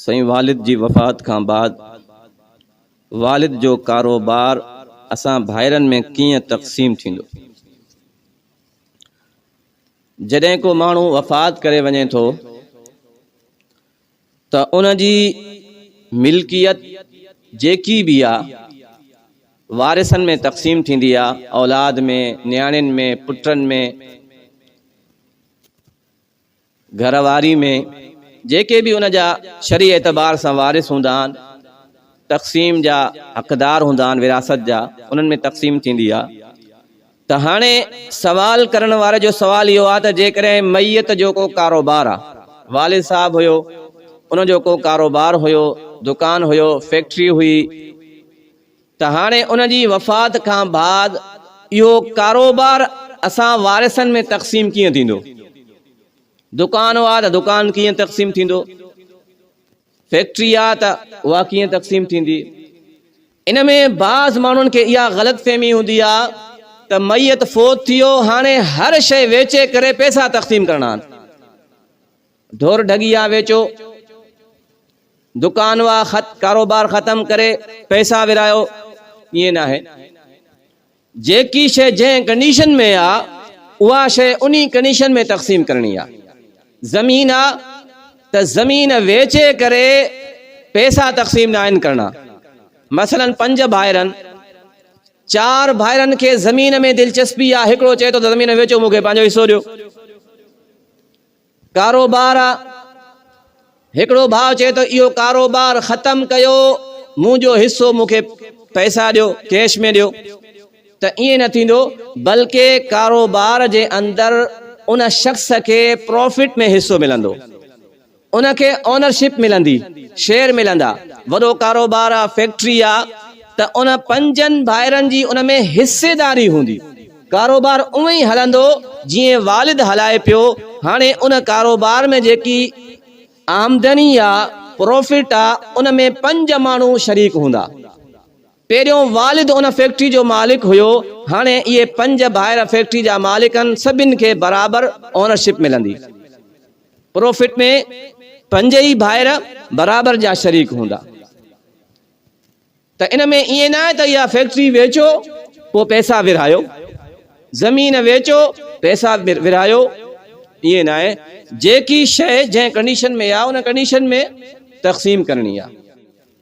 سائين والد جي وفات کان بعد والد جو ڪاروبار اسان ڀائرن ۾ ڪيئن تقسيم ٿيندو؟ جڏهن ڪو ماڻهو وفات ڪري وڃي ٿو ته ان جي ملڪيت جيڪي به آ وارثن ۾ تقسيم ٿيندي آ اولاد ۾ نياڻين ۾ پٽن ۾ گهر واري ۾ جيڪي به ان جا شرعي اعتبار سان وارث هوندا آهن، تقسيم جا حقدار هوندا آهن وراثت جا، انهن ۾ تقسيم ٿيندي آهي. ته هاڻي سوال ڪرڻ واري جو سوال اهو آهي ته جيڪڏهن ميت جو ڪو ڪاروبار آهي، والد صاحب هيو، ان جو ڪو ڪاروبار هيو، دڪان هيو، فيڪٽري هئي، ته هاڻي ان جي وفات کان بعد اهو ڪاروبار اسان وارثن ۾ تقسيم ڪيئن ٿيندو؟ دڪان هئا ته دڪان ڪيئن تقسيم ٿيندو؟ فيڪٽري آ ته اها ڪيئن تقسيم ٿيندي؟ ان ۾ بعض ماڻهن کي اها غلط فهمي هوندي آ ته ميت فوت ٿي ويو هاڻي هر شيء ويچي ڪري پيسا تقسيم ڪرڻا آهن. ڍور ڍڳيا ويچو، دڪان وا خت ڪاروبار ختم ڪري پئسا ورهايو، ائين ناهي. جيڪي شيء جنهن ڪنڊيشن ۾ آ، اها شيء انهي ڪنڊيشن ۾ تقسيم ڪرڻي آ. زمين آ ته زمين ويچي ڪري پئسا تقسيم ناهن ڪرڻا. مثلا پنج ڀائرن، چار ڀائرن کي زمين ۾ دلچسپي آ، هڪڙو چئي ٿو ته زمين ويچو مون کي پنهنجو حصو ڏيو. ڪاروبار آ، هڪڙو ڀاء چئي ٿو اهو ڪاروبار ختم ڪيو مون جو حصو مون کي پئسا ڏيو ڪيش ۾ ڏيو ته ائين نه ٿيندو بلڪه ڪاروبار جي اندر ان شخص کي پرافٽ ۾ حصو ملندو ان کي اونرشپ ملندي شيئر ملندا وڏو ڪاروبار آ فيڪٽري آ ته ان پنجن ڀائرن جي ان ۾ حصيداري هوندي. ڪاروبار اونئن ئي هلندو جيئن والد هلائي پيو، هاڻي ان ڪاروبار ۾ جيڪي آمدني يا پروفٽ آ ان ۾ پنج ماڻهو شريڪ هوندا. پهريون والد ان فيڪٽري جو مالڪ هيو، هاڻي اهي پنج ڀائر فيڪٽري جا مالڪ آهن سڀني کي برابر اونرشپ ملندي. پروفٽ ۾ پنج ئي ڀائر برابر جا شريڪ هوندا. ته ان ۾ ائين نه آهي ته اها فيڪٽري ويچو پوء پئسا ورهايو، زمين ويچو پئسا ورهايو، ائين نه آهي، جيڪي شيء جنهن ڪنڊيشن ۾ آهي ان ڪنڊيشن ۾ تقسيم ڪرڻي آهي.